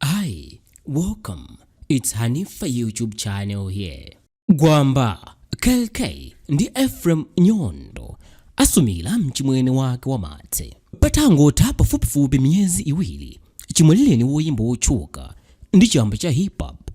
Hi, welcome. It's Hanifa YouTube channel here. Gwamba, Kell Kay ndi Ephraim Nyondo asumira mchimwene wake wa Martse. Patangotha pafupifupi miyezi iwiri chimwalirireni woyimba wotchuka ndi chamba cha hip hop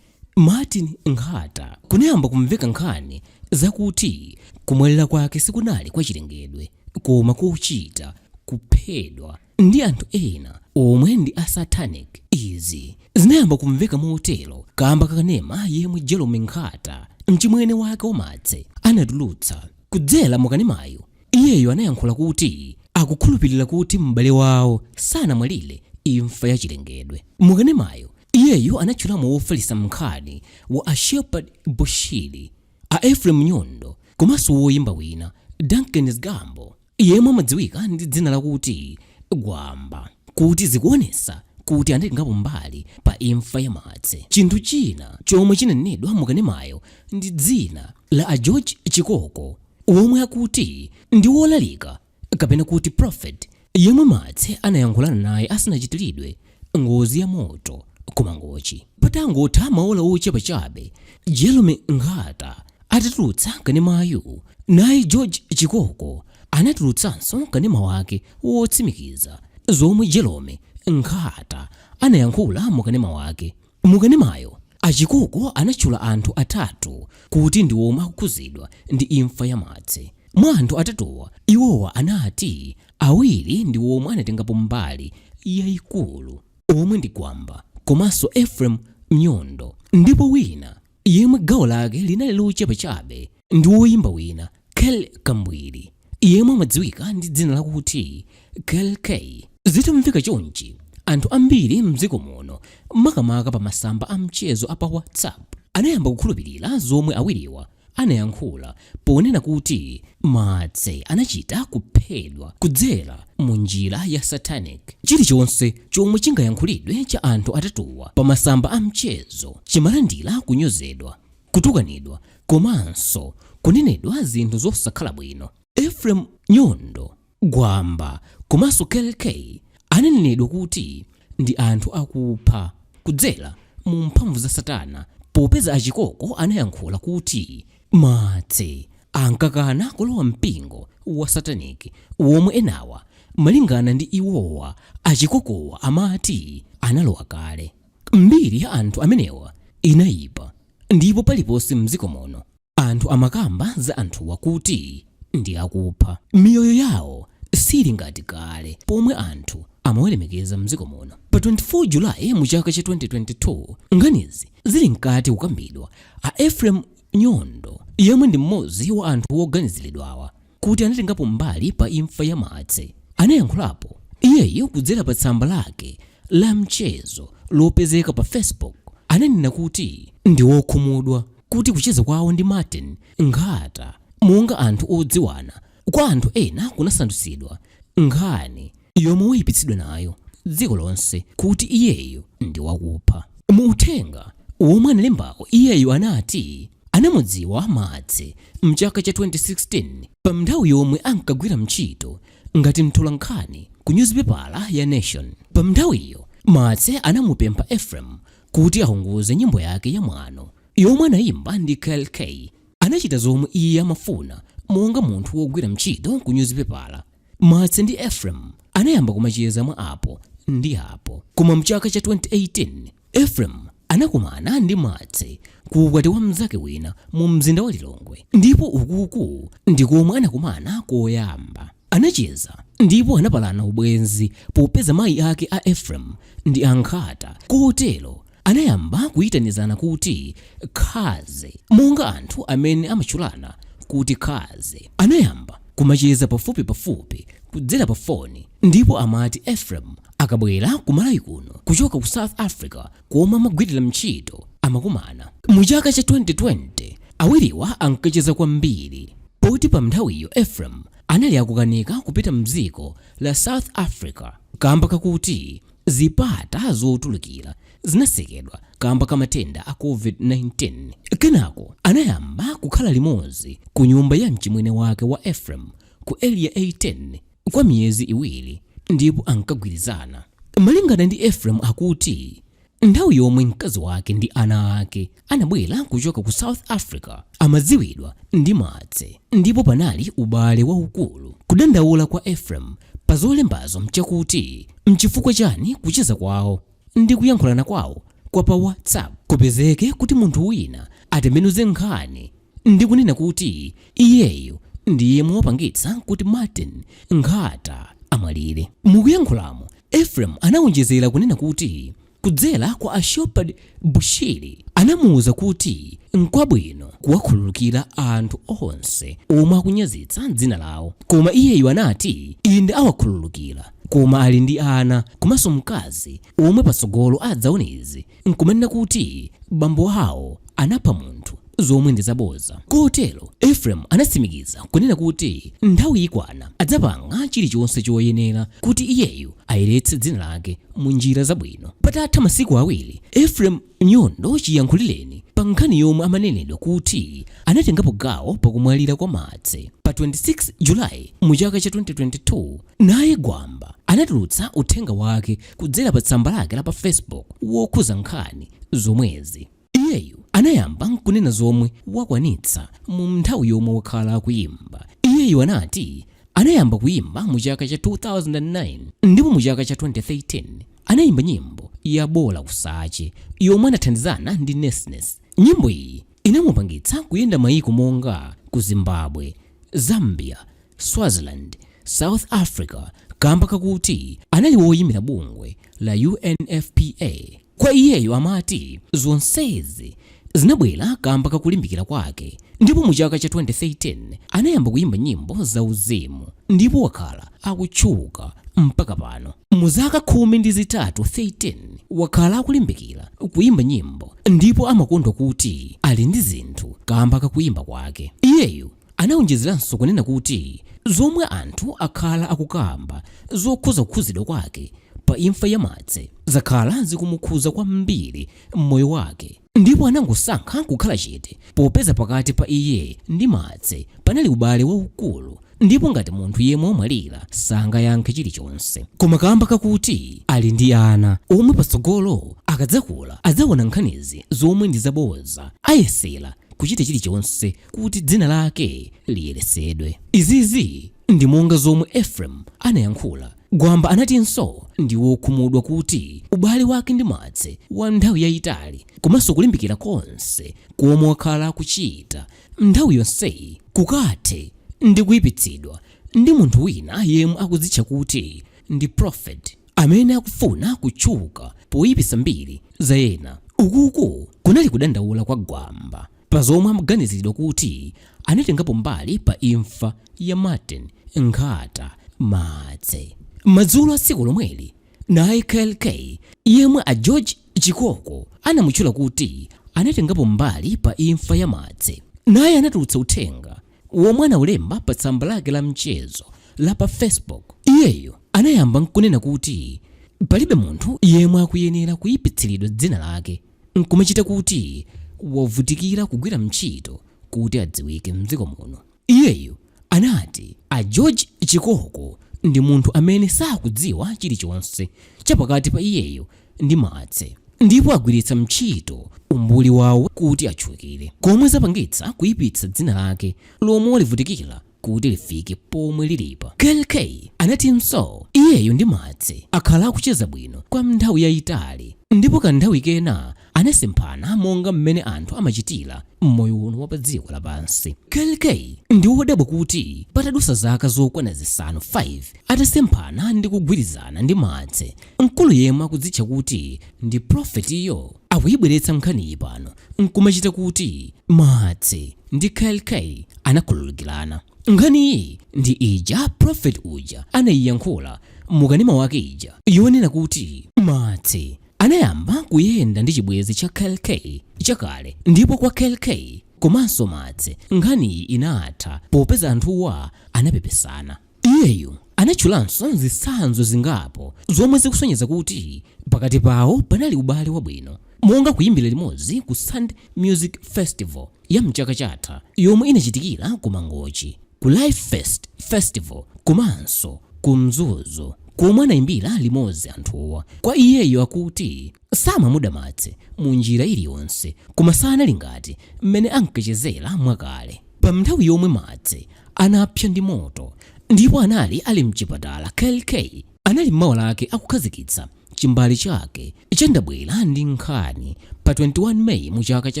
Martin Nkhata kunayamba kumveka nkhani zakuti kumwalira kwake sikunali kwa chilengedwe koma kochita kuphedwa ndi anthu ena omwe ndi a satanic. Izi zinayamba kumveka motero kaamba ka kanema yemwe Jerome Nkhata, mchimwene wake wa Martse, anatulutsa. Kudzera mu kanemayu, iyeyu anayankhula kuti akukhulupirira kuti m'bale wawo sanamwalire imfa ya chilengedwe. Mu kanemayu, iyeyu anatchulamo wofalitsa nkhani wa a Shepherd Bushiri, a Ephraim Nyondo komanso woyimba wina, Duncan Zgambo. yemwe amadziwika ndi dzina lakuti Gwamba kuti zikuonesa kuti anatengapo mbali pa imfa ya Martse. Chinthu china chomwe chinanenedwa mu kanemayo ndi dzina la a George Chikoko omwe akuti ndi wolalika kapena kuti prophet yemwe Martse anayankhulana naye asanachitiridwe ngozi ya moto ku Mangochi. Patangotha maola ochepa chabe, Jerome Nkhata atatulutsa kanemayu, naye George Chikoko anatulutsanso kanema wake wotsimikiza zomwe Jerome Nkhata anayankhula mu kanema wake. Mu kanemayo, a Chikoko anatchula anthu atatu kuti ndi omwe akukhuzidwa ndi imfa ya Martse. Mwa anthu atatuwa, iwowa anati awiri ndi omwe anatengapo mbali yaikulu omwe ndi Gwamba komanso Ephraim Nyondo ndipo wina yemwe gawo lake linali lochepa chabe ndi woyimba wina Kell Kambwiri, yemwe amadziwika ndi dzina lakuti Kell Kay. Zitamveka chonchi, anthu ambiri m'dziko muno, makamaka pa masamba a mchezo a pa WhatsApp, anayamba kukhulupirira zomwe awiriwa anayankhula ponena kuti Martse anachita kuphedwa kudzera mu njira ya satanic. Chilichonse chomwe chingayankhulidwe cha anthu atatuwa pa masamba a mchezo chimalandira kunyozedwa, kutukanidwa komanso kunenedwa zinthu zosakhala bwino. Ephraim Nyondo Gwamba komanso Kell Kay ananenedwa kuti ndi anthu akupha kudzera mu mphamvu za Satana popeza a Chikoko anayankhula kuti Martse ankakana kulowa mpingo wa Satanic womwe enawa malingana ndi iwowa a Chikokowa amati analowa kale. Mbiri ya anthu amenewa inayipa ndipo paliponse mdziko muno. Anthu amakamba za anthuwa kuti ndi akupha. Miyoyo yawo siili ngati kale pomwe anthu amawalemekeza mdziko muno. Pa 24 July mu chaka cha 2022 nkhanizi zili mkati kukambidwa, a Ephraim Nyondo yemwe ndi mmodzi wa anthu woganizilidwawa, kuti anatengapo mbali pa imfa ya Martse, anayankhulapo iyeyu kudzera pa tsamba lake la mchezo lopezeka pa Facebook. Ananena kuti ndi wokhumudwa kuti kucheza kwawo ndi Martin Nkhata monga anthu odziwana kwa anthu ena kunasandutsidwa nkhani yomwe waipitsidwa nayo dziko lonse kuti iyeyu ndi wakupha. Mu uthenga womwe analembawo iyeyu anati anamudziwa Martse mchaka cha 2016 pa nthawi yomwe ankagwira ntchito ngati mtolankhani ku nyuzipepala ya Nation. Pa nthawiyo Martse anamupempha Ephraim kuti aunguze nyimbo yake ya Mwano yomwe anayimba ndi Kell Kay. Anachita zomwe iye amafuna monga munthu wogwira ntchito ku nyuzipepala. Martse ndi Ephraim anayamba kumacheza mwa apo ndi apo. Koma mchaka cha 2018, Ephraim anakumana ndi Martse ku ukwati wa mnzake wina mu mzinda wa Lilongwe, ndipo ukuku ndi komwe anakumana koyamba. Anacheza ndipo anapalana ubwenzi popeza mayi ake a Ephraim ndi a Nkhata kotero Anayamba kuitanizana kuti Cuz monga anthu amene amatchulana kuti Cuz. Anayamba kumacheza pafupi pafupi kudzera pa foni ndipo amati Ephraim akabwera ku Malawi kuno kuchoka ku South Africa komwe amagwilira ntchito amakumana. Mu chaka cha 2020 awiriwa ankacheza kwambiri poti pa nthawiyo Ephraim anali akukanika kupita mdziko la South Africa kamba kakuti Zipata zotulukira zinatsekedwa kaamba ka matenda a COVID-19. Kenako anayamba kukhala limodzi kunyumba ya mchimwene wake wa Ephraim ku Area 18 kwa miyezi iwiri ndipo ankagwirizana. Malingana ndi Ephraim akuti nthawi yomwe mkazi wake ndi ana ake anabwera kuchoka ku south africa amadziwidwa ndi martse ndipo panali ubale waukulu kudandaula kwa ephraim pa zolembazo nchakuti mchifukwa chani kucheza kwawo ndi kuyankhulana kwawo kwa pa whatsapp kupezeke kuti munthu wina atembenuze nkhani ndi kunena kuti iyeyu ndi yemwe wapangitsa kuti martin nkhata amwalire mukuyankhulamo ephraim anawonjezera kunena kuti Kudzera kwa a Shepherd Bushiri anamuuza kuti nkwabwino kuwakhululukira anthu onse omwe akunyazitsa dzina lawo koma iyeyu anati inde awakhululukira koma ali ndi ana komanso mkazi omwe patsogolo adzaone izi nkumanena kuti bambo awo anapha munthu. zomwe ndi zabodza. Kotero Ephraim anatsimikiza kunena kuti nthawi ikwana adzapanga chilichonse choyenera kuti iyeyu ayeretse dzina lake mu njira zabwino. Patatha masiku awiri, Ephraim Nyondo chiyankhulireni pa nkhani yomwe amanenedwa kuti anatengapo gawo pa kumwalira kwa Martse pa 26 July mu chaka cha 2022, naye Gwamba anatulutsa uthenga wake kudzera pa tsamba lake la pa Facebook wokhuza nkhani zomwezi. Iyeyu anayamba n'kunena zomwe wakwanitsa mu m'nthawi yomwe wakhala akuyimba. Iyeyu anati anayamba kuyimba mu chaka cha 2009 ndipo mu chaka cha 2013 anayimba nyimbo ya Bola Kusache yomwe anathandizana ndi Nesness. Nyimbo iyi inamupangitsa kuyenda mayiko monga ku Zimbabwe, Zambia, Swaziland, South Africa kamba kakuti anali woyimira bungwe la UNFPA. Kwa iyeyo amati zonsezi zinabwera kamba ka kulimbikira kwake ndipo mu chaka cha 2013 anayamba kuyimba nyimbo za uzimu ndipo wakhala akutchuka mpaka pano. Mu zaka khumi ndi zitatu 13 wakhala akulimbikira kuyimba nyimbo ndipo amakondwa kuti ali ndi zinthu kamba ka kuyimba kwake. Iyeyu Anaonjezelanso kunena kuti zomwe anthu akhala akukamba zokhuza kukhuzidwa kwake pa imfa ya Martse zakhala zikumukhuza kwambiri mmoyo wake ndipo anangosankha kukhala chete popeza pakati pa iye ndi Martse panali ubale waukulu ndipo ngati munthu yemwe wamwalira sangayankhe chilichonse koma kamba kakuti ali ndi ana omwe patsogolo akadzakula adzaona nkhanizi zomwe ndi zaboza ayesela kuchita chilichonse kuti dzina lake liyeresedwe. Izizi ndi monga zomwe Ephraim anayankhula. Gwamba anatinso ndi wokhumudwa kuti ubale wake ndi Martse wa nthawi yayitali komanso kulimbikira konse komwe wakhala akuchita nthawi yonseyi kukathe ndi kuyipitsidwa ndi munthu wina yemwe akudzitcha kuti ndi Prophet amene akufuna kutchuka poyipisa mbiri za ena. Ukuku kunali kudandaula kwa Gwamba. Pa zomwe amaganiziridwa kuti anatengapo mbali pa imfa ya Martin Nkhata Martse madzulo a tsiku lomweli, naye Kell Kay yemwe a George Chikoko anamutchula kuti anatengapo mbali pa imfa ya Martse naye anatulutsa uthenga womwe anaulemba pa tsamba lake la mchezo la pa Facebook. Iyeyu anayamba n'kunena kuti palibe munthu yemwe akuyenera kuipitsilidwa dzina lake. nkumachita kuti wavutikira kugwira mtchito kuti adziwike mdziko muno. Iyeyo anati a George Chikoko ndi munthu amene sakudziwa chilichonse cha pakati pa iyeyo ndi Martse ndipo agwiritsa mtchito umbuli wawo kuti atchukire komwe zapangitsa kuipitsa dzina lake lomwe walivutikira kuti lifike pomwe lilipa. Kell Kay anatinso iyeyo ndi Martse akhala akucheza bwino kwa mnthawi yayitali ndipo ka nthawi kena anasemphana monga mmene anthu amachitira mmoyo uno wa pa dziko lapansi. Kell Kay ndi wodabwa kuti patadusa zaka zokwana zisanu 5 atasemphana ndi kugwirizana ndi Martse, mkulu yemwe akudzitcha kuti ndi Prophet yo akuyibweretsa nkhaniyi pano nkumachita kuti Martse ndi Kell Kay anakhululukirana. Nkhaniyi ndi ija prophet uja anaiyankhula mu kanema wake ija yonena kuti Martse anayamba kuyenda ndi chibwenzi cha Kell Kay chakale ndipo kwa Kell Kay komanso Martse nkhaniyi inatha popeza anthuwa anapepesana. Iyeyo anatchulanso zitsanzo zingapo zomwe zikusonyeza kuti pakati pawo panali ubale wabwino, monga kuimbira limodzi ku Sand Music Festival ya m'chaka chatha yomwe inachitikira ku Mangochi, ku Lifest Festival komanso ku Mzuzu komwe anaimbira limodzi anthuwa. Kwa iyeyo akuti. Samamuda Martse mu njira iliyonse, koma sanali ngati m'mene ankachezera mwakale. Pa mnthawi yomwe Martse anapsa ndi moto ndipo anali ali mchipatala Kell Kay anali mawa lake akukhazikitsa chimbale chake cha Ndabwera Ndi Nkhani pa 21 May mu chaka cha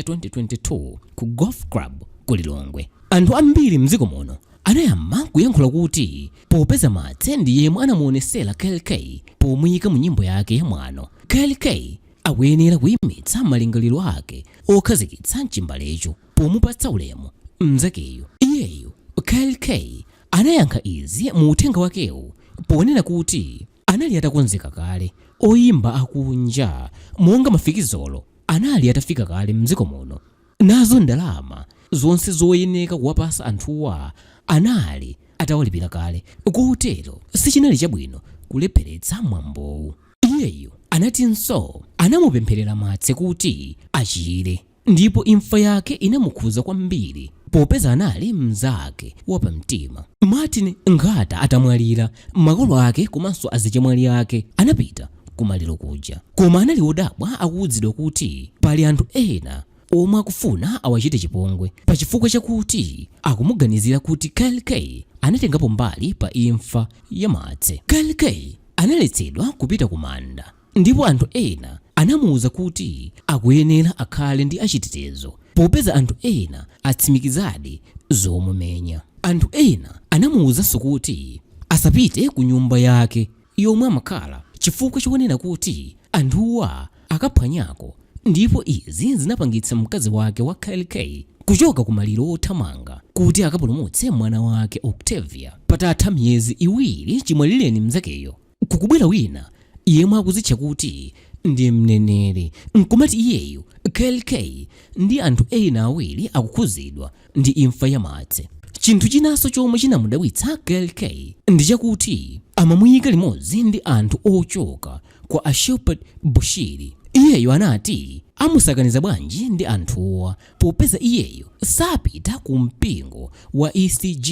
2022 ku Golf Club ku Lilongwe. Anthu ambiri mdziko muno anayamba kuyankhula kuti popeza Martse ndi yemwe anamuonesera Kell Kay pomuyika mu nyimbo yake ya Mwano, Kell Kay akuyenera kuyimitsa malingaliro ake okhazikitsa chimbalecho pomupatsa ulemu mzakeyo. Iyeyo Kell Kay anayankha izi mu uthenga wakewo ponena kuti anali atakonzeka kale, oyimba akunja monga Mafikizolo anali atafika kale mdziko muno. Nazo ndalama zonse zoyeneka kuwapasa anthuwa anali atawalipira kale kotero sichinali chabwino kulepheretsa mwambowu. Iyeyo anatinso anamupempherera Martse kuti achire ndipo imfa yake inamukhuza kwambiri popeza anali mnzake wapamtima. Martin Nkhata atamwalira, makolo ake komanso azichemwali ake anapita kumaliro kuja. Koma anali odabwa akuudzidwa kuti pali anthu ena omwe akufuna awachite chipongwe pa chifukwa chakuti akumuganizira kuti Kell Kay anatengapo mbali pa imfa ya Martse. Kell Kay analetsedwa kupita ku manda ndipo anthu ena anamuuza kuti akuyenera akhale ndi achitetezo popeza anthu ena atsimikizadi zomumenya. Anthu ena anamuuzanso kuti asapite ku nyumba yake yomwe amakhala chifukwa chonena kuti anthuwa akaphwanyako ndipo izi zinapangitsa mkazi wake wa Kell Kay kuchoka ku maliro othamanga kuti akapulumutse mwana wake Octavia patatha miyezi iwiri chimwalilireni mzakeyo kukubwera wina yemwe akuzitcha kuti ndi mneneri nkumati iyeyo Kell Kay ndi anthu ena awiri akukhuzidwa ndi imfa ya Martse. Chinthu chinanso chomwe chinamudabwitsa Kell Kay ndi chakuti amamuyika limodzi ndi anthu ochoka kwa a Shepherd Bushiri. Iyeyo anati amusakaniza bwanji ndi anthuwa popeza iyeyo sapita ku mpingo wa ECG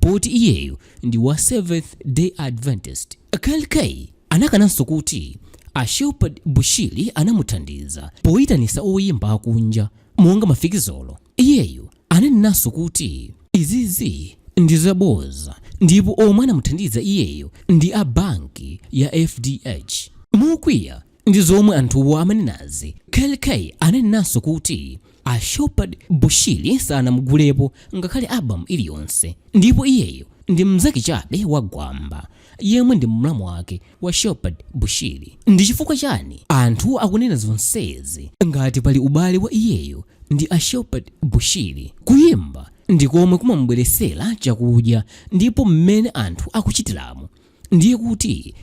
poti iyeyo ndi wa Seventh Day Adventist. Kell Kay anakananso kuti a Shepherd Bushiri anamuthandiza poyitanisa oyimba akunja monga Mafikizolo. Iyeyo ananenanso kuti, Izizi ndi zabodza ndipo omwe anamuthandiza iyeyo ndi a banki ya FDH. Mokwiya ndi zomwe anthuwa amanenazi, Kell Kay ananenanso kuti a Shepherd Bushiri sanamugulepo ngakhale album iliyonse ndipo iyeyo ndi mnzake chabe wa Gwamba. yemwe ndi mlamu wake wa Shepherd Bushiri. Ndi chifukwa chani anthu akunena zonsezi ngati pali ubale wa iyeyo ndi a Shepherd Bushiri? Kuyimba ndi komwe kumamubweresera chakudya ndipo mmene anthu akuchitiramo ndiye kuti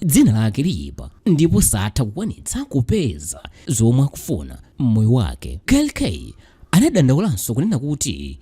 dzina lake liyipa ndipo satha kukwanitsa kupeza zomwe akufuna m'moyo wake. Kell Kay anadandaulanso kunena kuti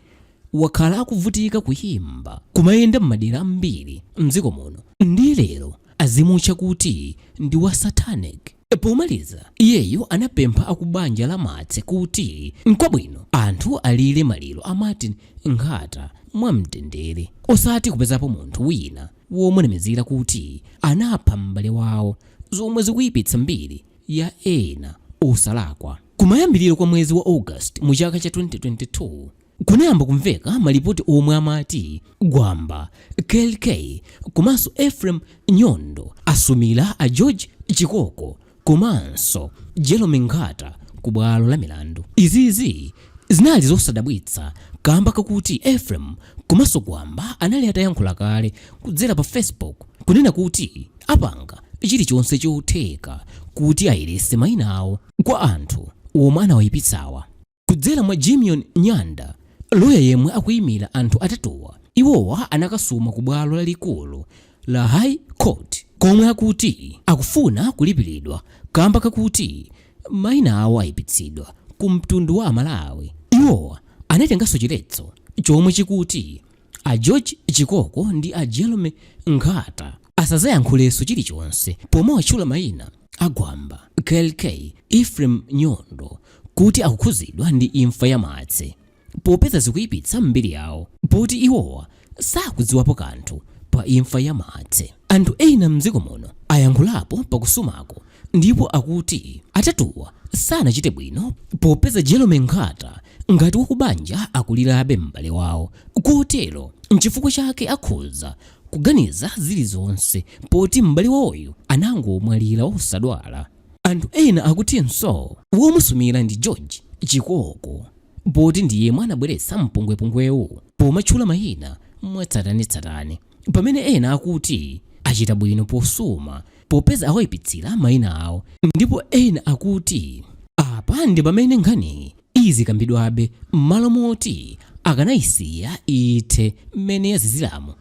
wakhala akuvutika kuyimba kumayenda m'madera ambiri mdziko muno ndiye lero azimutcha kuti ndi wa satanic. Pomaliza iyeyo anapempha akubanja la Martse kuti nkwabwino anthu alire maliro a Martin Nkhata mwamtendere osati kupezapo munthu wina womunamizira kuti anapha m'bale wawo zomwe zikuyipitsa mbiri ya ena osalakwa. Kumayambiriro kwa mwezi wa August mu chaka cha 2022, Kunayamba kumveka malipoti omwe amati Gwamba, Kell Kay komanso Ephraim Nyondo asumila a George Chikoko komanso Jerome Nkhata ku bwalo la milandu. Izizi zinali zosadabwitsa kamba kakuti Ephraim komanso Gwamba anali atayankhula kale kudzera pa Facebook kunena kuti apanga chilichonse chotheka kuti ayerese maina awo kwa anthu omwe anawayipitsawa. Kudzera mwa Jimion Nyanda, loya yemwe akuimira anthu atatuwa, iwowa anakasuma ku bwalo lalikulu la High Court komwe akuti akufuna kulipilidwa kamba kakuti maina awo ayipitsidwa ku mtundu wa a Malawi. Iwowa anatenganso chiletso chomwe chikuti A George Chikoko ndi a Jerome Nkhata asazayankhuleso chilichonse pomawatchula maina a Gwamba, Kell Kay, Ephraim Nyondo kuti akukhuzidwa ndi imfa ya Martse popeza zikuyipitsa mbiri yawo poti iwowa sakudziwapo kanthu pa imfa ya Martse. Anthu ena mdziko muno ayankhulapo pa kusumaku ndipo akuti atatuwa sanachite bwino popeza Jerome Nkhata Ngati wakubanja akulirabe m'bale wawo kotero n'chifukwa chake akhoza kuganiza zilizonse poti m'bale wawoyo anangomwalira osadwala, anthu ena akutinso womusumira ndi George Chikoko poti ndi yemwe anabweretsa mpungwepungwewu pomatchula mayina mwatsatanetsatane. Pamene ena akuti, Achita bwino posuma, popeza awaipitsira mayina awo. Ndipo ena akuti, Apa ndi pamene nkhaniyi izikambidwabe m'malo moti akanaisiya ithe mmene yaziziramu.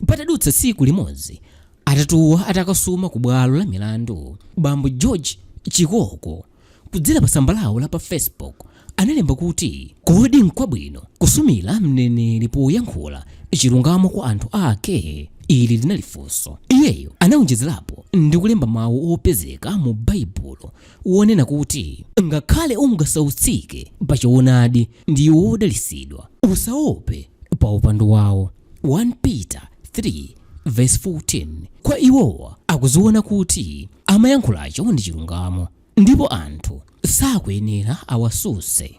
Patadutsa tsiku limodzi atatuwa atakasuma kubwalo la milandu, bambo George Chikoko, Kudzera pa tsamba lawo la pa Facebook, analemba kuti, Kodi n'kwabwino kusumira mneneri poyankhula chilungamo kwa anthu ake? Ili linali funso. Iyeyo anawonjezerapo ndi kulemba mawu opezeka mu Baibulo wonena kuti, Ngakhale ungasautsike pa choonadi, ndiwe wodalitsidwa. Usaope pa upandu wawo. 1 Peter 3 vesi 14 Kwa iwowa akuziona kuti amayankhulacho ndi chilungamo ndipo anthu sakuyenera awasuse.